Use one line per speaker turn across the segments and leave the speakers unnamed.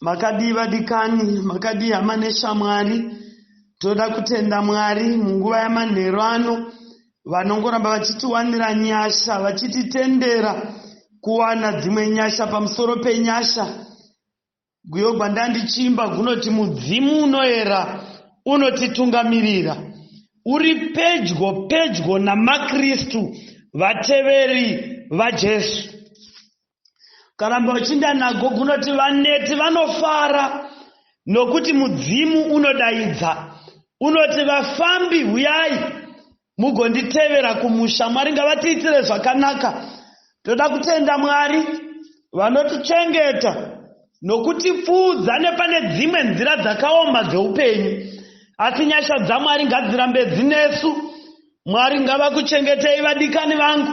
Makadii vadikani, makadii hama neshamwari. Toda kutenda Mwari munguva yamanheru ano vanongoramba vachitiwanira nyasha, vachititendera kuwana dzimwe nyasha pamusoro penyasha. Guyo gwandandichiimba gunoti mudzimu unoera unotitungamirira. Uri pedyo pedyo namaKristu vateveri vaJesu. karamba uchinda nago kunoti vaneti vanofara nokuti mudzimu unodaidza unoti vafambi huyai mugonditevera kumusha mwari ngavatiitire zvakanaka toda kutenda mwari vanotichengeta nokutipfuudza nepane dzimwe nzira dzakaoma dzeupenyu asi nyasha dzamwari ngadzirambe dzinesu mwari ngavakuchengetei vadikani vangu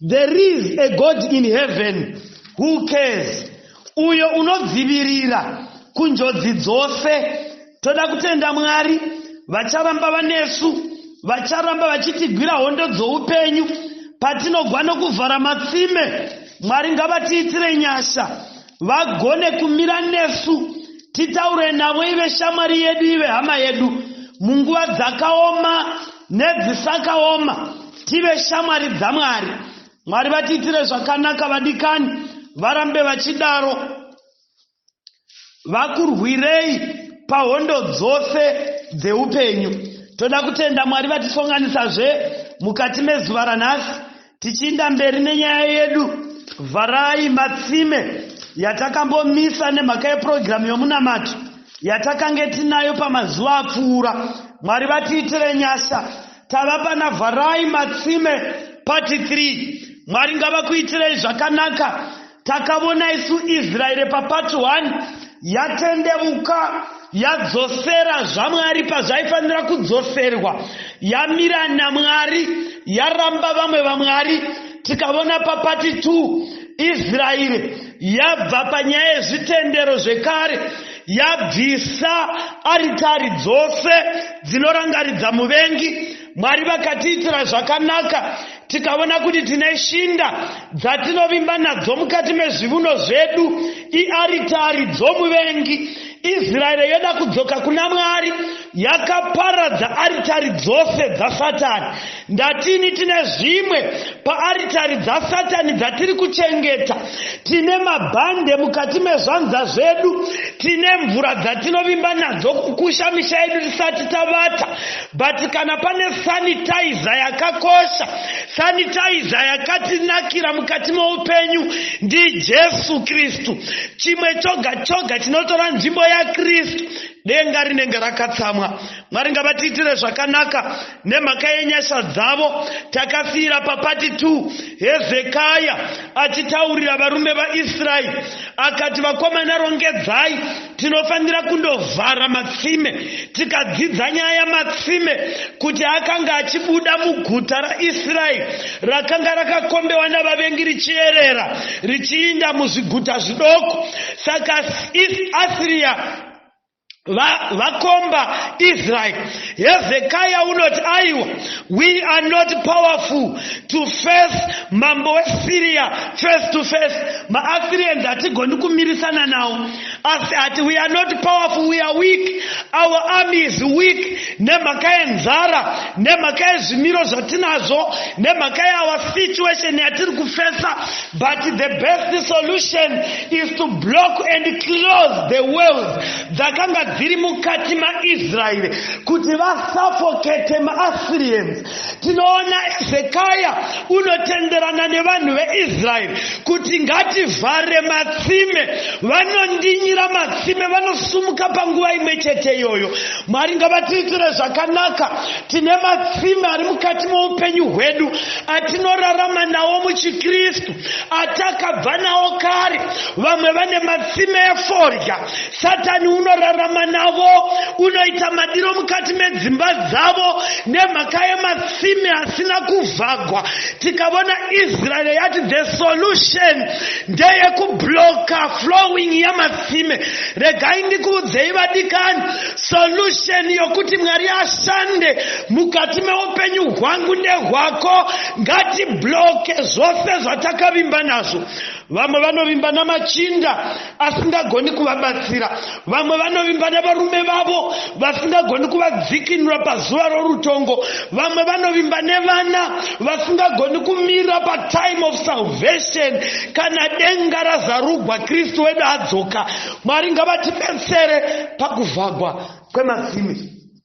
There is a God in heaven who cares, uyo unodzivirira kunjodzi dzose. Toda kutenda Mwari, vacharamba vanesu, vacharamba vachitigwira hondo dzoupenyu patinogwa nokuvhara matsime. Mwari ngavatiitire nyasha. vagone kumira nesu titaure navo ive shamwari yedu ive hama yedu munguva dzakaoma nedzisakaoma tive shamwari dzamwari mwari vatiitire zvakanaka vadikani varambe vachidaro vakurwirei pahondo dzose dzeupenyu toda kutenda mwari vatisonganisazve mukati mezuva ranhasi Tichiinda mberi nenyaya yedu, vharai matsime yatakambomisa nemhaka yepurogiramu yomunamato yatakange tinayo pamazuva apfuura. Mwari vatiitire nyasha. Tava pana Vharai Matsime Part 3. Mwari ngavakuitirei zvakanaka. Takavona isu Israeri pa part 1 yatendevuka yadzosera zvaMwari pazvaifanira kudzoserwa, yamira naMwari, yaramba vamwe vamwari. Tikavona pa part 2 Israeri yabva panyaya yezvitendero zvekare yabvisa aritari dzose dzinorangaridza muvengi. Mwari vakatiitira zvakanaka tikaona kuti tine shinda dzatinovimba nadzo mukati mezvivuno zvedu iaritari dzomuvengi israeri yoda kudzoka kuna mwari yakaparadza aritari dzose dzasatani ndatini tine zvimwe paaritari dzasatani dzatiri kuchengeta tine mabhande mukati mezvanza zvedu tine mvura dzatinovimba nadzo kukusha misha yedu tisati tavata But kana pane sanitizer yakakosha, sanitizer yakatinakira mukati meupenyu ndiJesu Kristu. Chimwe choga choga chinotora nzvimbo yaKristu denga rinenge rakatsamwa mwari ngavatiitire zvakanaka nemhaka yenyasha dzavo takasiira papati 2 hezekaya achitaurira varume vaisraeri akati vakomana rongedzai Tinofanira kundovhara matsime. Tikadzidza nyaya yamatsime kuti akanga achibuda muguta raIsraeri rakanga rakakombewa navavengi richierera richiinda muzviguta zvidoko. Saka Asiriya vakomba va Israel. Hezekiah unoti aiwa, we are not powerful to face mambo weSyria face to face. MaAssyrians hatigoni kumirisana nawo. asi ati we are not powerful we are weak our army is weak nemhaka yenzara nemhaka yezvimiro zvatinazvo nemhaka yeour situation yatiri kufesa but the best solution is to block and close the wells dzakanga dziri mukati maisraeri kuti vasafokete maassyrians tinoona zekaya unotenderana nevanhu veisraeri kuti ngativhare matsime vanondinyira matsime vanosumuka panguva imwe chete iyoyo mwari ngavatiitire zvakanaka tine matsime ari mukati moupenyu hwedu atinorarama nawo muchikristu atakabva nawo kare vamwe vane matsime efodya Satani unorarama navo, unoita madiro mukati medzimba dzavo nemhaka yematsime asina kuvhagwa. Tikavona Israel yati the solution ndeye kubloka flowing yematsime. Regai ndikuudzei vadikani, solution yokuti Mwari ashande mukati meupenyu hwangu nehwako ngatibloke zvose zvatakavimba nazvo. Vamwe vanovimba namachinda asingagoni kuvabatsira. Vamwe vanovimba navarume vavo vasingagoni kuvadzikinura pazuva rorutongo. Vamwe vanovimba nevana vasingagoni kumira patime of salvation kana denga razarugwa Kristu wedu adzoka. Mwari ngavatibetsere pakuvhagwa kwematsime.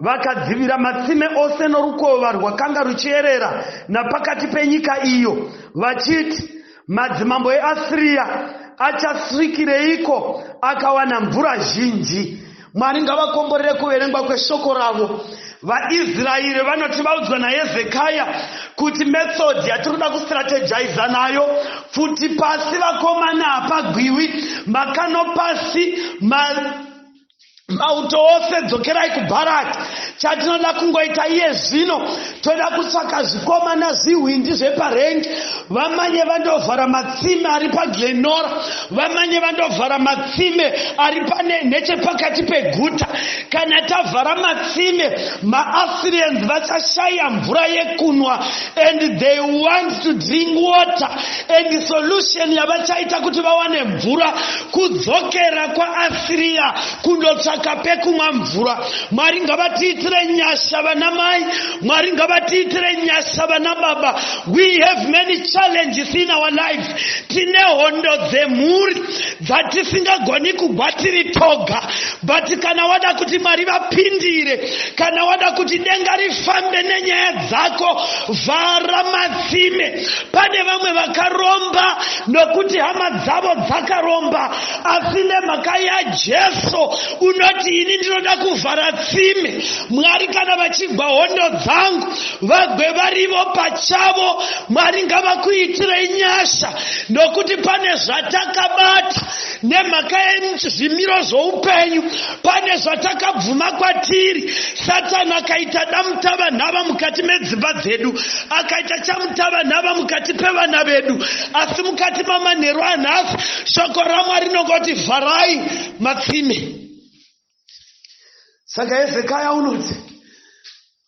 Vakadzivira matsime ose norukova rwakanga ruchierera napakati penyika iyo, vachiti, Madzimambo eAsiria achasvikireiko akawana mvura zhinji? Mwari ngavakomborere kuverengwa kweshoko ravo. VaIsraeri vanoti vaudzwa naHezekaya kuti method yatiri kuda kustrategiza nayo pfuti pasi vakomana hapagwiwi makano pasi ma mauto ose dzokerai kubharati chatinoda kungoita iye zvino toda kutsvaka zvikomana zvihwindi zveparengi vamanye vandovhara matsime ari paglenora vamanye vandovhara matsime ari pane nechepakati peguta kana tavhara matsime maassyrians vachashaya mvura yekunwa and they want to drink water and solution yavachaita kuti vawane mvura kudzokera kwaasiriya kundotsvaka pekumwa mvura mwari ngavatiitire nyasha vana mai mwari ngavatiitire nyasha vana baba we have many challenges in our life tine hondo dzemhuri dzatisingagoni kugwa tiri toga but kana wada kuti mwari vapindire kana wada kuti denga rifambe nenyaya dzako vhara matsime pane vamwe vakaromba nokuti hama dzavo dzakaromba asi nemhaka yajesu unoti ini ndinoda kuvhara tsime mwari kana vachigwa hondo dzangu vagwe varivo pachavo mwari ngavakuitirei nyasha nokuti pane zvatakabata Nemhaka yezvimiro zvoupenyu, pane zvatakabvuma kwatiri. Satani akaita damutavanhava mukati medzimba dzedu, akaita chamutavanhava mukati pevana vedu. Asi mukati mamanheru anhasi, shoko raMwari rinongoti, Vharai matsime. saka hezekaya unoti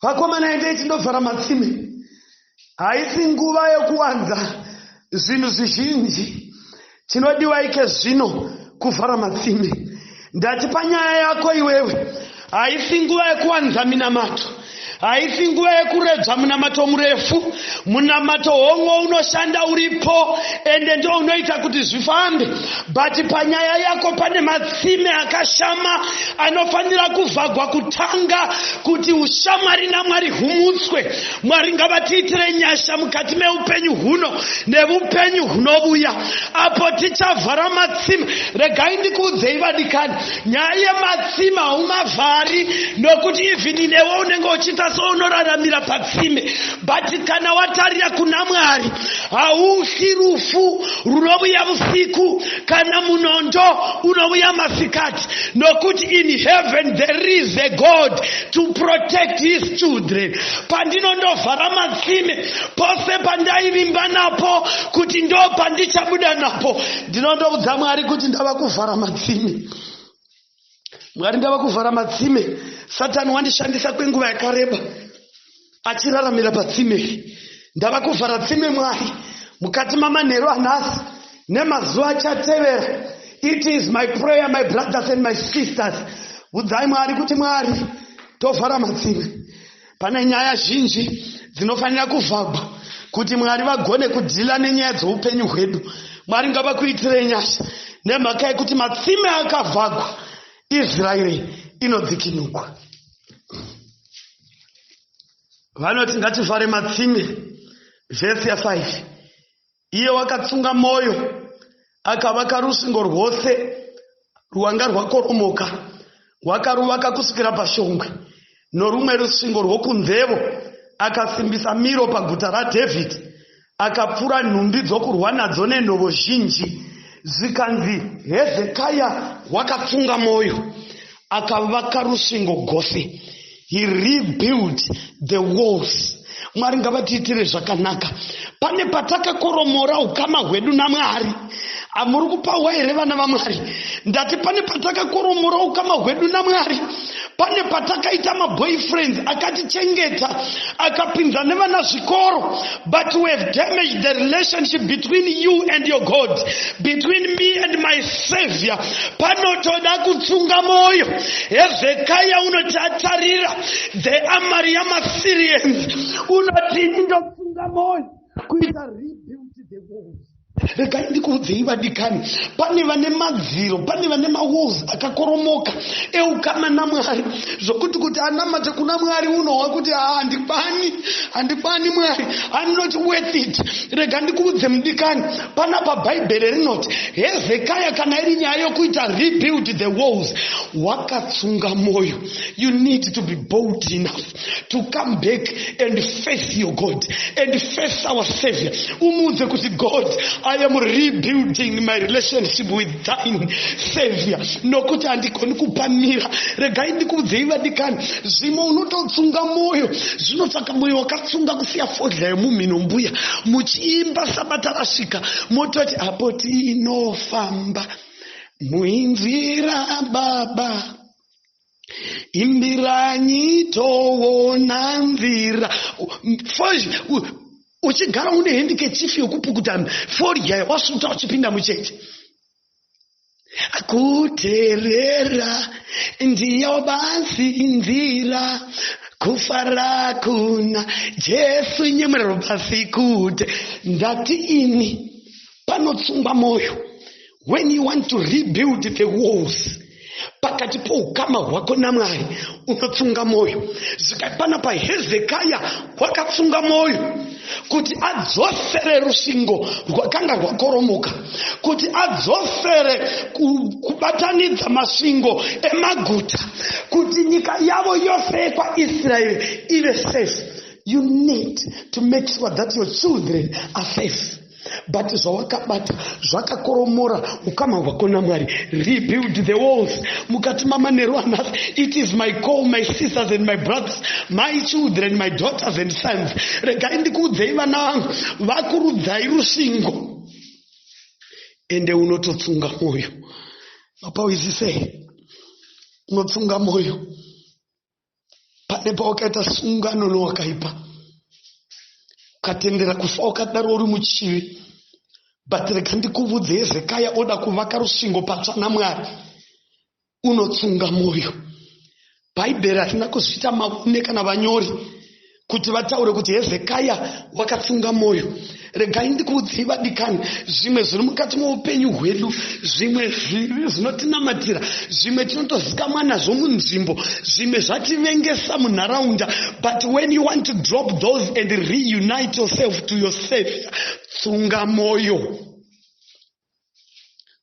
vakomana endei tindovhara matsime haisi nguva yokuwanza zvinhu zvizhinji chinodiwa ike zvino kuvhara matsime ndati panyaya yako iwewe haisi nguva yokuwanza minamato Haisi nguva yekuredza munamato murefu. Munamato hongo unoshanda uripo ende ndo unoita kuti zvifambe. But panyaya yako pane matsime akashama anofanira kuvhagwa kutanga kuti ushamwari naMwari humutswe. Mwari ngavatiitire nyasha mukati meupenyu huno nevupenyu hunovuya apo tichavhara matsime. Regai ndikuudzei vadikani. Nyaya yematsime haumavhari nokuti even inewe unenge uchiita sounoraramira patsime but kana watarira kuna mwari haufi rufu runovuya vusiku kana munondo unovuya masikati nokuti in heaven there is a god to protect his children pandinondovhara matsime pose pandaivimba napo kuti ndo pandichabuda napo ndinoda kudza mwari kuti ndava kuvhara matsime mwari ndava kuvhara matsime satani wandishandisa kwenguva yakareba achiraramira patsime ndava kuvhara tsime mwari mukati mamanheru anhasi nemazuva achatevera it is my prayer my brothers and my sisters udzai mwari kuti mwari tovhara matsime Pane nyaya zhinji dzinofanira kuvhagwa kuti Mwari vagone kudhila nenyaya dzoupenyu hwedu. Mwari ngavakuitirei nyasha nemhaka yekuti matsime akavhagwa Israeri inodzikinugwa. Vanoti ngativhare matsime vhesi ya 5 Iye wakatsunga mwoyo, akavaka rusvingo rwose rwanga rwakoromoka, wakaruvaka kusvikira pashongwe, norumwe rusvingo rwokunzevo akasimbisa miro paguta raDhavhidhi, akapfura nhumbi dzokurwa nadzo nenhovo zhinji. Zvikanzi, Hezekaya wakatsunga mwoyo, akavaka rusvingo gose. He rebuilt the walls. Mwari ngavatiitire zvakanaka. Pane patakakoromora ukama hwedu naMwari. Amuri kupahwa here vana vaMwari? Ndati pane patakakoromora ukama hwedu naMwari. Pane patakaita maboyfriends akatichengeta akapinza nevana zvikoro. But we have damaged the relationship between you and your God, between me and my Savior. Panotoda kutsunga moyo. Hezekiah unoti atarira the armory yamaSyrians. Unoti ndotsunga moyo kuita rebuild the walls. Regai ndikuudzei vadikani, pane vane madziro, pane vane mawalls akakoromoka eukama naMwari zvokuti kuti anamate kuna Mwari unohwa kuti haa handikwani, handikwani Mwari, I'm not worth it. Rega ndikuudze mudikani, panapa Bhaibheri rinoti Hezekaya kana iri nyaya yokuita rebuild the walls, wakatsunga mwoyo. You need to be bold enough. to come back and face your god and face our savior umuudze kuti god i am rebuilding my relationship with thine savior nokuti handigoni kupamira regai ndikuudzei vadikani zvimwe unototsunga mwoyo zvinotsvaka mwoyo wakatsunga kusiya fodya yemumhino mbuya muchiimba sabata rasvika mototi apo tinofamba muinzira baba imbiranyi toona mvira uchigara une hendikechifi yokupukuta fodya wasvuta uchipinda mucheche kuterera ndiyo basi nzira kufara kuna jesu nyemwerero basi kute ndati ini panotsungwa mwoyo when you want to rebuild the walls pakati poukama hwako namwari unotsunga mwoyo zvikapana pahezekaya wakatsunga mwoyo kuti adzosere rusvingo rwakanga rwakoromoka kuti adzosere kubatanidza masvingo emaguta kuti nyika yavo yose yekwaisraeri ive safe you need to make sure that your children are safe but zvawakabata zvakakoromora ukama hwako namwari rebuild the walls mukati mamanheru another it is my call my sisters and my brothers my children my daughters and sons regai ndikuudzei vana vangu vakurudzai rusvingo ende unototsunga mwoyo mapawizisei unotsunga mwoyo pane pawakaita sungano nowakaipa ukatendera kufa wakadaro uri muchivi but rega ndikuvudze hezekaya oda kuvaka rusvingo patsva namwari unotsunga mwoyo bhaibheri harina kuzviita mavune kana vanyori kuti vataure kuti hezekaya wakatsunga mwoyo regai ndikuudzei vadikani zvimwe zviri mukati moupenyu hwedu zvimwe zvinotinamatira zvimwe tinotozikamwa nazvo munzvimbo zvimwe zvativengesa munharaunda but when you want to drop those and reunite yourself to your savior tsunga mwoyo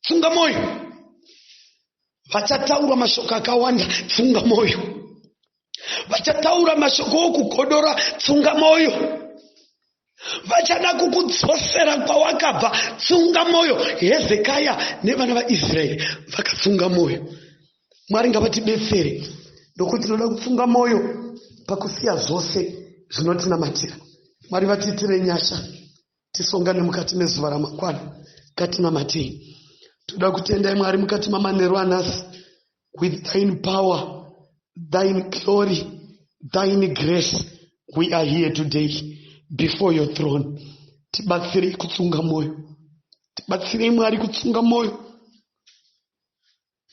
funga mwoyo vachataura mashoko akawanda funga mwoyo vachataura mashoko okugodora funga mwoyo vachada kukudzosera kwawakabva tsunga mwoyo hezekaya nevana vaisraeri vakatsunga mwoyo mwari ngavatibetsere nokuti tinoda kutsunga mwoyo pakusiya zvose zvinotinamatira mwari vatiitire nyasha Tisongane mukati mezuva ramangwana ngatinamatei. Toda kutendai Mwari mukati mamanheru anhasi with thine power, thine glory, thine grace we are here today before your throne. Tibatsirei kutsunga moyo. Tibatsirei Mwari kutsunga moyo.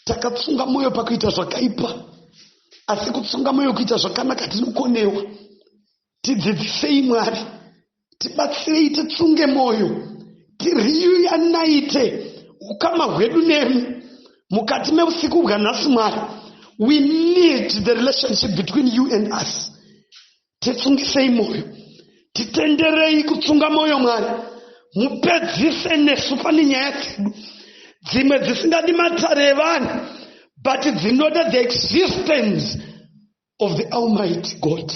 takatsunga mwoyo pakuita zvakaipa asi kutsunga mwoyo kuita zvakanaka tinokonewa tidzidzisei mwari tibatsirei titsunge mwoyo tiriyuyanaite ukama hwedu nemi mukati meusiku bwanhasi mwari we need the relationship between you and us Titsungisei moyo. Titenderei kutsunga moyo Mwari. Mupedzise nesu pane nyaya dzedu. Dzimwe dzisingadi matare evanhu but dzinoda the existence of the almighty God.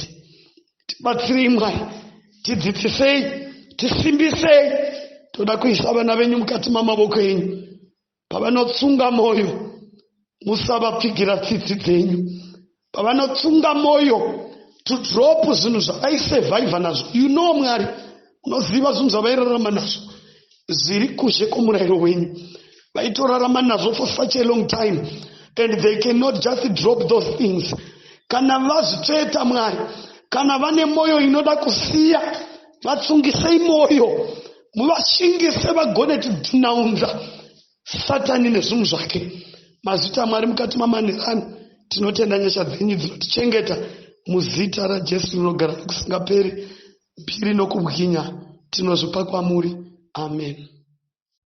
Tibatsirei Mwari. Tidzidzisei. Tisimbisei. Toda kuisa vana venyu mukati mamavoko enyu. pavanotsunga mwoyo musavapfigira tsitsi dzenyu pavanotsunga mwoyo to drop zvinhu zvavaisurviva nazvo you know mwari unoziva zvinhu zvavairarama nazvo zviri kuzhe kwomurayiro wenyu vaitorarama nazvo for such a long time and they cannot just drop those things kana vazvitsveta mwari kana vane mwoyo inoda kusiya vatsungisei mwoyo muvashingise vagone tidhunaunza satani nezvinhu zvake mazita amwari mukati mamanherano tinotenda nyasha dzenyu dzinotichengeta muzita rajesu rinogara nokusingaperi mbiri nokubwinya tinozvipa kwamuri amen